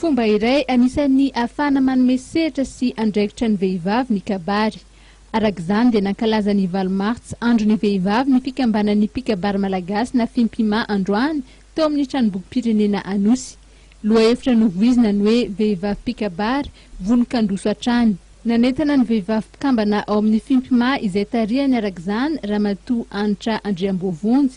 Fomba iray anisan'ny ahafahana manome sehatra sy andraikitra ny vehivavy ny kabary. Araka izany dia nankalaza ny valo martsa andron'ny vehivavy ny fikambanan'ny mpikabary malagasy na Fimpima androany tao amin'ny Tranombokim-pirenena Anosy. Lohahevitra novoizina ny hoe Vehivavy mpikabary, vonon-kandroso hatrany. Nanentana ny vehivavy mpikambana ao amin'ny Fimpima izay tarihany araka izany Ramatoa Hanitra Andriamboavonjy,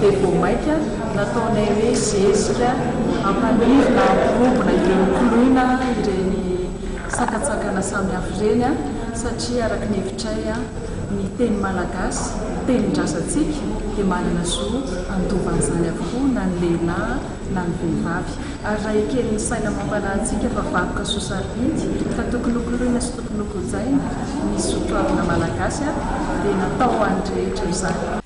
dia vao mainka nataonay hoe zezika hampaniry na hampirombona ireny koloina ireny sakantsakana samihafa ireny satria araka ny hevitray ny teny malagasy, ny tenin-drazantsika dia manana zo handova an'izany avokoa na ny lehilahy na ny vehivavy ary raha ekeny ny saina mampanahy antsika fa vakoka soa sarobidy ka tokony hokoloina sy tokony hokojaina ny soatoavina malagasy dia natao ho an'ny rehetra izany.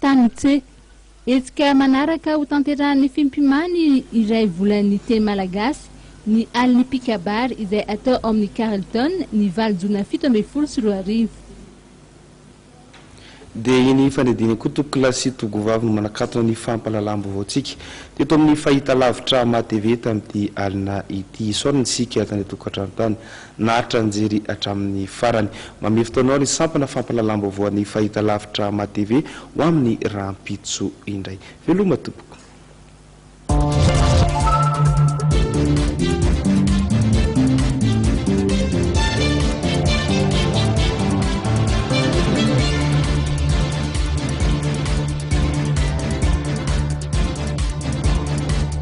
Tany C. Hetsika manaraka ho tanterahan'ny Fimpimany iray volan'ny teny malagasy ny Alin'ny Mpikabary izay hatao ao amin'ny Carlton ny valo jona fito ambin'ny folo sy roa arivo. Dia iny fandidiana koa Tokola sy Togovavy no manakatona ny fampahalalam-baovaontsika teto amin'ny fahitalavitra Maha TV tamin'ity alina ity. Isaorana isika tany an-tokantrano tany Naharitra nijery hatramin'ny farany. Mamehy fotoanao ny sampana fampahalalam-baovao an'ny fahitalavitra MATV ho amin'ny rahampitso indray. Veloma tompoko.